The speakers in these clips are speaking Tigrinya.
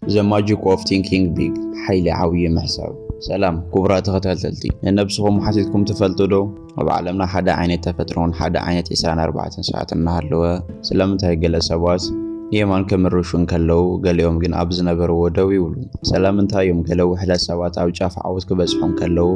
The Magic of Thinking Big ሓይሊ ዓብዪ ምሕሳብ ሰላም ክቡራት ተኸታተልቲ ንነብስኹም ሓቲትኩም ትፈልጡ ዶ ኣብ ዓለምና ሓደ ዓይነት ተፈጥሮን ሓደ ዓይነት 24 ሰዓት እናሃለወ ስለምንታይ ገለ ሰባት ንየማን ከምርሹ እንከለዉ ገሊኦም ግን ኣብ ዝነበርዎ ደው ይብሉ ስለምንታይ እዮም ገለ ውሕዳት ሰባት ኣብ ጫፍ ዓወት ክበጽሑ እንከለዉ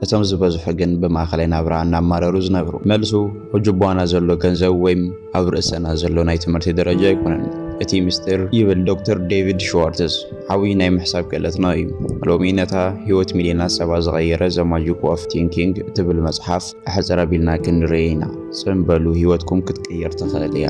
እቶም ዝበዝሑ ግን ብማእከላይ ናብራ እናማረሩ ዝነብሩ። መልሱ ኣብ ጁባና ዘሎ ገንዘብ ወይም ኣብ ርእሰና ዘሎ ናይ ትምህርቲ ደረጃ ኣይኮነን እቲ ምስጢር ይብል ዶክተር ዴቪድ ሽዋርትዝ ዓብይ ናይ ምሕሳብ ክእለትና እዩ። ሎሚ ነታ ህይወት ሚልዮናት ሰባት ዝቐየረ ዘ ማጂክ ኦፍ ቲንኪንግ እትብል መጽሓፍ ኣሕጽር ኣቢልና ክንርእይ ኢና። ጽን በሉ ህይወትኩም ክትቅየር ትኽእል እያ።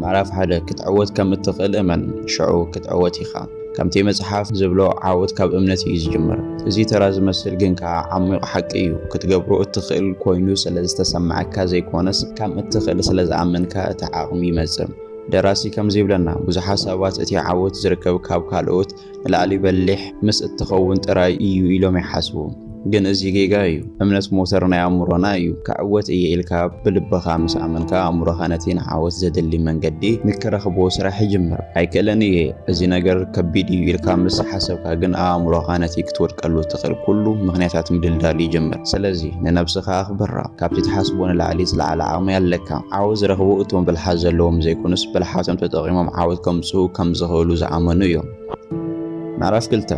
ምዕራፍ ሓደ ክትዕወት ከም እትኽእል እመን ሽዑ ክትዕወት ኢኻ። ከምቲ መጽሓፍ ዝብሎ ዓወት ካብ እምነት እዩ ዝጅምር። እዚ ተራ ዝመስል ግን ከኣ ዓሚቕ ሓቂ እዩ። ክትገብሮ እትኽእል ኮይኑ ስለ ዝተሰምዓካ ዘይኮነስ ከም እትኽእል ስለ ዝኣመንካ እቲ ዓቕሚ ይመጽእ። ደራሲ ከምዚ ይብለና ብዙሓት ሰባት እቲ ዓወት ዝርከብ ካብ ካልኦት ንላዕሊ በሊሕ ምስ እትኸውን ጥራይ እዩ ኢሎም ይሓስቡ። ግን እዚ ጌጋ እዩ። እምነት ሞተር ናይ ኣእምሮና እዩ። ክዕወት እየ ኢልካ ብልብኻ ምስ ኣመንካ ኣእምሮኻ ነቲ ንዓወት ዘድሊ መንገዲ ንክረኽቦ ስራሕ ይጅምር። ኣይክእልን እየ፣ እዚ ነገር ከቢድ እዩ ኢልካ ምስ ሓሰብካ ግን ኣእምሮኻ ነቲ ክትወድቀሉ እትኽእል ኩሉ ምኽንያታት ምድልዳል ይጅምር። ስለዚ ንነብስኻ ኣኽብራ። ካብቲ ትሓስቦ ንላዕሊ ዝለዓለ ዓቕሚ ኣለካ። ዓወት ዝረኽቡ እቶም ብልሓት ዘለዎም ዘይኮኑስ፣ ብልሓቶም ተጠቒሞም ዓወት ከምጽኡ ከም ዝኽእሉ ዝኣመኑ እዮም። ምዕራፍ ክልተ፣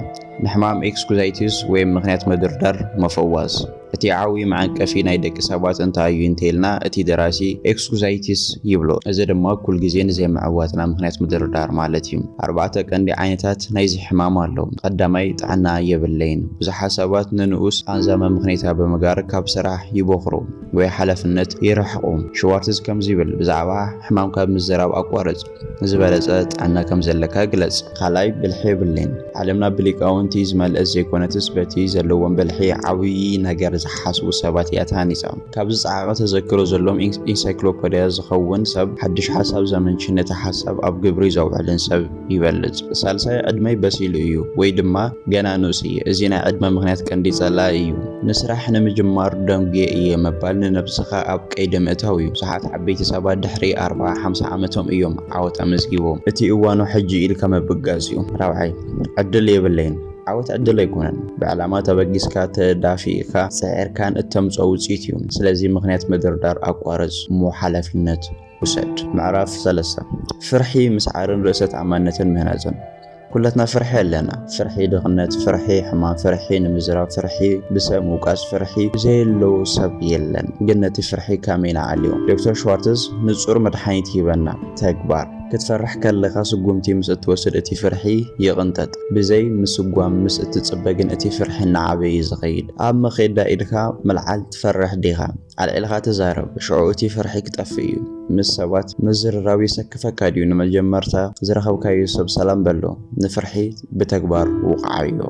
ንሕማም ኤክስኩዛይቲስ ወይ ምኽንያት ምድርዳር መፈዋስ። እቲ ዓብዩ መዐንቀፊ ናይ ደቂ ሰባት እንታይ እዩ እንተይልና እቲ ደራሲ ኤክስኩዛይቲስ ይብሎ። እዚ ድማ ኩልግዜ ንዘይምዕዋትና ምኽንያት ምድርዳር ማለት እዩ። ኣርባዕተ ቀንዲ ዓይነታት ናይዚ ሕማም ኣሎ። ቐዳማይ ጥዕና የብለይን። ብዙሓት ሰባት ንንኡስ ቓንዛ መምኽኔታ ብምግባር ካብ ስራሕ ይቦኽሩ ወይ ሓላፍነት ይርሕቑ። ሽዋርትዝ ከምዚ ይብል፣ ብዛዕባ ሕማምካ ምዝራብ ኣቋርጽ። ዝበለጸ ጥዕና ከም ዘለካ ግለጽ። ኻልኣይ ብልሒ የብለይን። ዓለምና ብሊቃውንቲ ዝመልእት ዘይኮነትስ በቲ ዘለዎም ብልሒ ዓብዪ ነገር ዝሓስቡ ሰባት እያ ተሃኒጻ። ካብ ዝጸዓቐ ተዘክሮ ዘሎዎም ኢንሳይክሎፐድያ ዝኸውን ሰብ ሓድሽ ሓሳብ ዘመንጭን ነቲ ሓሳብ ኣብ ግብሪ ዘውዕልን ሰብ። ይበልጽ። ሳልሳይ ዕድመይ በሲሉ እዩ ወይ ድማ ገና ንኡስ እየ። እዚ ናይ ዕድመ ምኽንያት ቀንዲ ጸላኢ እዩ። ንስራሕ ንምጅማር ደንጉየ እየ ምባል ንነብስኻ ኣብ ቀይዲ ምእታው እዩ። ብዙሓት ዓበይቲ ሰባት ድሕሪ ኣርብዓ ሓምሳ ዓመቶም እዮም ዓወት ኣመዝጊቦም። እቲ እዋኑ ሕጂ እዩ ኢልካ ምብጋስ እዩ። ራብዓይ፣ ዕድል የብለይን። ዓወት ዕድል ኣይኮነን። ብዕላማ ተበጊስካ፣ ተዳፊእካ፣ ጽዒርካን እተምጽኦ ውጽኢት እዩ። ስለዚ ምኽንያት ምድርዳር ኣቋርጽ። እሞ ሓላፊነት? ውሰድ። ምዕራፍ ሰለስተ፣ ፍርሒ ምስዓርን ርእሰ ተኣማንነትን ምህናጽን ኩላትና ፍርሒ ኣለና። ፍርሒ ድኽነት፣ ፍርሒ ሕማም፣ ፍርሒ ንምዝራብ፣ ፍርሒ ብሰብ ምውቃስ፣ ፍርሒ ዘየለዎ ሰብ የለን። ግን ነቲ ፍርሒ ከመይ ንዓልዮ? ዶክተር ሽዋርትዝ ንጹር መድሓኒት ሂበና፣ ተግባር። ክትፈርሕ ከለኻ ስጉምቲ ምስ እትወስድ እቲ ፍርሒ ይቕንጠጥ። ብዘይ ምስጓም ምስ እትጽበ ግን እቲ ፍርሒ እናዓበየ እዩ ዝኸይድ። ኣብ መኼዳ ኢድካ ምልዓል ትፈርሕ ዲኻ? ኣልዒልካ ተዛረብ ሽዑ እቲ ፍርሒ ክጠፍእ እዩ ምስ ሰባት ምዝርራብ የሰክፈካ ድዩ ንመጀመርታ ዝረከብካዮ ሰብ ሰላም በሎ ንፍርሒ ብተግባር ውቅዓዮ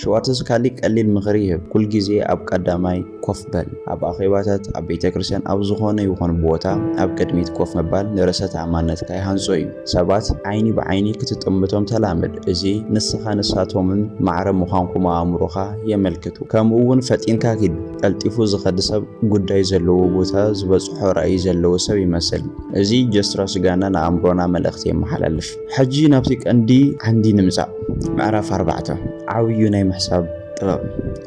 ሽዋርትዝ ካሊእ ቀሊል ምክሪ ይህብ ኩል ግዜ ኣብ ቀዳማይ ኮፍ በል ኣብ ኣኼባታት ኣብ ቤተክርስትያን ኣብ ዝኮነ ይኩን ቦታ ኣብ ቅድሚት ኮፍ ምባል ንርእሰ ተኣማንነትካ ይሃንጾ እዩ ሰባት ዓይኒ ብዓይኒ ክትጥምቶም ተላመድ እዚ ንስካ ንሳቶምን ማዕረ ምኳንኩም ኣእምሮካ የመልክቱ ከምኡ ውን ፈጢንካ ኪድ ቀልጢፉ ዝኸዲ ሰብ ጉዳይ ዘለዎ ቦታ ዝበጽሖ ራእይ ዘለዎ ሰብ ይመስል። እዚ ጀስትራ ስጋና ንኣእምሮና መልእኽቲ የመሓላልፍ። ሕጂ ናብቲ ቀንዲ ዓንዲ ንምጻእ። ምዕራፍ ኣርባዕተ፣ ዓብዩ ናይ ምሕሳብ ጥበብ።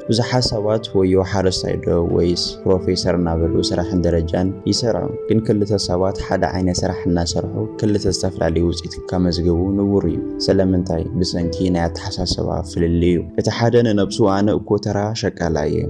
ብዙሓት ሰባት ወዮ ሓረስታይ ዶ ወይስ ፕሮፌሰር እናበሉ ስራሕን ደረጃን ይሰርዑ። ግን ክልተ ሰባት ሓደ ዓይነት ስራሕ እናሰርሑ ክልተ ዝተፈላለዩ ውጽኢት። ከመዝግቡ ንቡር እዩ። ስለምንታይ? ብሰንኪ ናይ ኣተሓሳስባ ፍልልይ እዩ። እቲ ሓደ ንነብሱ ኣነ እኮ ተራ ሸቃላይ እየ፣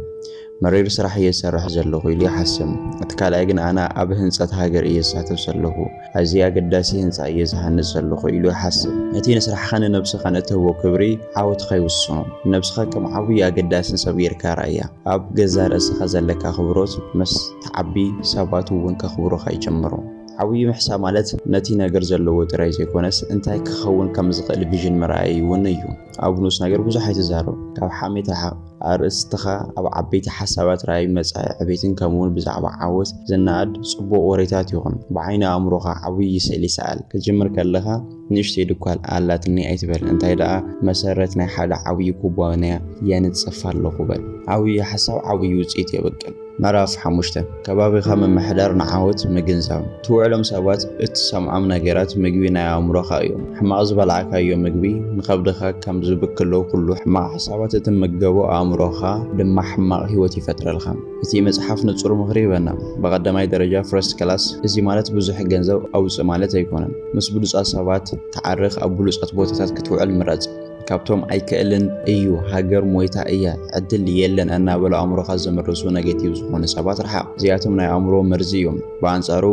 መሪር ስራሕ እየ ዝሰርሕ ዘለኹ ኢሉ ይሓስብ። እቲ ካልኣይ ግን ኣነ ኣብ ህንጸት ሃገር እየ ዝሳተፍ ዘለኹ፣ ኣዝዪ ኣገዳሲ ህንጻ እየ ዝሃንጽ ዘለኹ ኢሉ ይሓስብ። እቲ ንስራሕኻን ንነብስኻን እትህቦ ክብሪ ዓወትኻ ይውስኖ። ንነብስኻ ከም ዓብዪ ኣገዳስን ሰብ ጌርካ ረኣያ። ኣብ ገዛእ ርእስኻ ዘለካ ኣኽብሮት ምስ ትዓቢ ሰባት እውን ከኽብሩኻ ይጅምሩ። ዓብዩ ምሕሳ ማለት ነቲ ነገር ዘለዎ ጥራይ ዘይኮነስ እንታይ ክኸውን ከም ዝኽእል ቪዥን ምርኣይ እውን እዩ። ኣብ ንኡስ ነገር ብዙሕ ኣይትዛረብ፣ ካብ ሓሜት ርሓቕ። ኣርእስትኻ ኣብ ዓበይቲ ሓሳባት፣ ራእይ፣ መጻኢ ዕቤትን ከምኡውን ብዛዕባ ዓወት ዝነኣድ ጽቡቕ ወሬታት ይኹን። ብዓይኒ ኣእምሮኻ ዓብዪ ስእሊ ሰኣል። ክትጅምር ከለኻ፣ ንእሽተይ ድኳን ኣላትኒ ኣይትበል፣ እንታይ ደኣ መሰረት ናይ ሓደ ዓብዪ ኩባንያ የንጽፍ ኣለኹ በል። ዓብዪ ሓሳብ ዓብዪ ውጽኢት የብቅል። ምዕራፍ ሓሙሽተ፣ ከባቢኻ ምምሕዳር ንዓወት ምግንዛብ። ትውዕሎም ሰባት እትሰምዖም ነገራት ምግቢ ናይ ኣእምሮኻ እዮም። ሕማቕ ዝበላዕካዮ ምግቢ ንኸብድኻ ከም ዝብክሎ ኩሉ ሕማቕ ሓሳባት እትምገቦ ኣእምሮኻ ድማ ሕማቕ ህይወት ይፈጥረልካ። እቲ መጽሓፍ ንጹር ምኽሪ ይህበና። ብቐዳማይ ደረጃ፣ First Class፣ እዚ ማለት ብዙሕ ገንዘብ ኣውጽእ ማለት ኣይኮነን። ምስ ብሉጻት ሰባት ተዓረኽ፣ ኣብ ብሉጻት ቦታታት ክትውዕል ምረጽ። ካብቶም ኣይክእልን እዩ፣ ሃገር ሞይታ እያ፣ ዕድል የለን እናበሉ ኣእምሮኻ ዘምርሱ ነገቲቭ ዝኾኑ ሰባት ርሓቕ። እዚኣቶም ናይ ኣእምሮ መርዚ እዮም። ብኣንጻሩ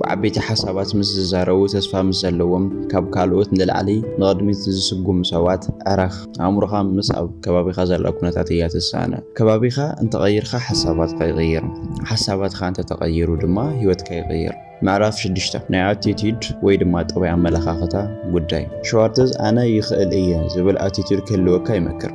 ብዓበይቲ ሓሳባት ምስ ዝዛረቡ፣ ተስፋ ምስ ዘለዎም፣ ካብ ካልኦት ንላዕሊ ንቕድሚት ዝስጉሙ ሰባት ዕረኽ። ኣእምሮኻ ምስ ኣብ ከባቢኻ ዘላ ኩነታት እያ ትሳነ። ከባቢኻ እንተቐይርካ ሓሳባትካ ይቕይር፣ ሓሳባትካ እንተተቐይሩ ድማ ህይወትካ ይቕይር። ምዕራፍ ሽዱሽተ፣ ናይ ኣቲቲዩድ ወይ ድማ ጠባይ ኣመለኻኽታ ጉዳይ። ሸዋርትዝ ኣነ ይኽእል እየ ዝብል ኣቲቲዩድ ክህልወካ ይመክር።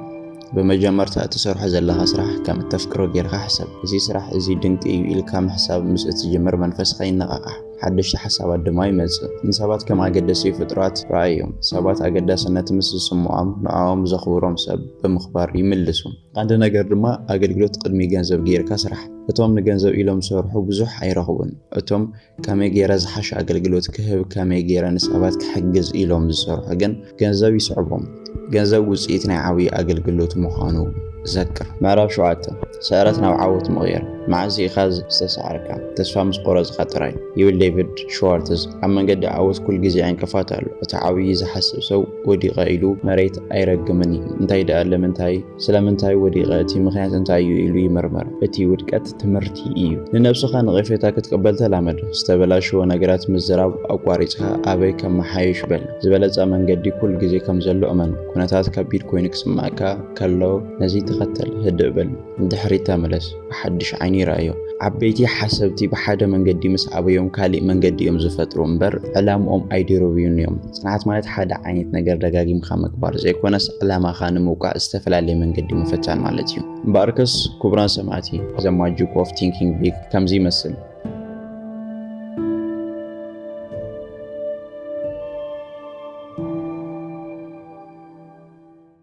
ብመጀመርታ እትሰርሖ ዘለኻ ስራሕ ከም እተፍቅሮ ጌርካ ሕሰብ። እዚ ስራሕ እዚ ድንቂ እዩ ኢልካ ምሕሳብ ምስ እትጅምር መንፈስካ ይነቓቓሕ። ሓደሽቲ ሓሳባት ድማ ይመጽእ። ንሰባት ከም ኣገደሲኡ ፍጡራት ረኣዮም። ሰባት ኣገዳስነት ምስ ዝስምዖም ንዖኦም ዘኽብሮም ሰብ ብምኽባር ይምልሱ። ቐንዲ ነገር ድማ ኣገልግሎት ቕድሚ ገንዘብ ገይርካ ስራሕ። እቶም ንገንዘብ ኢሎም ዝሰርሑ ብዙሕ ኣይረኽቡን። እቶም ከመይ ገይረ ዝሓሸ ኣገልግሎት ክህብ ከመይ ገይረ ንሰባት ክሕግዝ ኢሎም ዝሰርሑ ግን ገንዘብ ይስዕቦም። ገንዘብ ውጽኢት ናይ ዓብዪ ኣገልግሎት ምዃኑ ዘክር። ምዕራፍ ሸውዓተ፣ ስዕረት ናብ ዓወት ምቕያር፣ መዓስ ኢኻ ዝተሳዕርካ? ተስፋ ምስ ቆረጽካ ጥራይ። ይብል ዴቪድ ሽዋርትዝ፣ ኣብ መንገዲ ዓወት ኩል ግዜ ዕንቅፋት ኣሎ። እቲ ዓብዪ ዝሓስብ ሰብ ወዲቐ ኢሉ መሬት ኣይረግምን እዩ። እንታይ ደኣ ለምንታይ? ስለምንታይ ወዲቐ? እቲ ምኽንያት እንታይ እዩ? ኢሉ ይምርምር። እቲ ውድቀት ትምህርቲ እዩ። ንነብስኻ ነቐፌታ ክትቅበል ተላመድ። ዝተበላሸወ ነገራት ምዝራብ ኣቋሪጽካ ኣበይ ከመሓይሽ በል። ዝበለጸ መንገዲ ኩሉ ግዜ ከም ዘሎ እመን። ኩነታት ከቢድ ኮይኑ ክስምዓካ ከሎ ነዚ ተኸተል፣ ህድእ በል፣ ንድሕሪት ተመለስ። ብሓድሽ ዓይኒ ይርኣዮ። ዓበይቲ ሓሰብቲ ብሓደ መንገዲ ምስ ኣበዮም ካሊእ መንገዲ እዮም ዝፈጥሩ እምበር ዕላምኦም ኣይድርብዩን እዮም። ፅንዓት ማለት ሓደ ዓይነት ነገር ደጋጊምካ ምግባር ዘይኮነስ ዕላማኻ ንምውቃዕ ዝተፈላለየ መንገዲ ምፍታን ማለት እዩ። እምበኣርከስ ክቡራን ሰማዕቲ The Magic of Thinking Big ከምዚ ይመስል።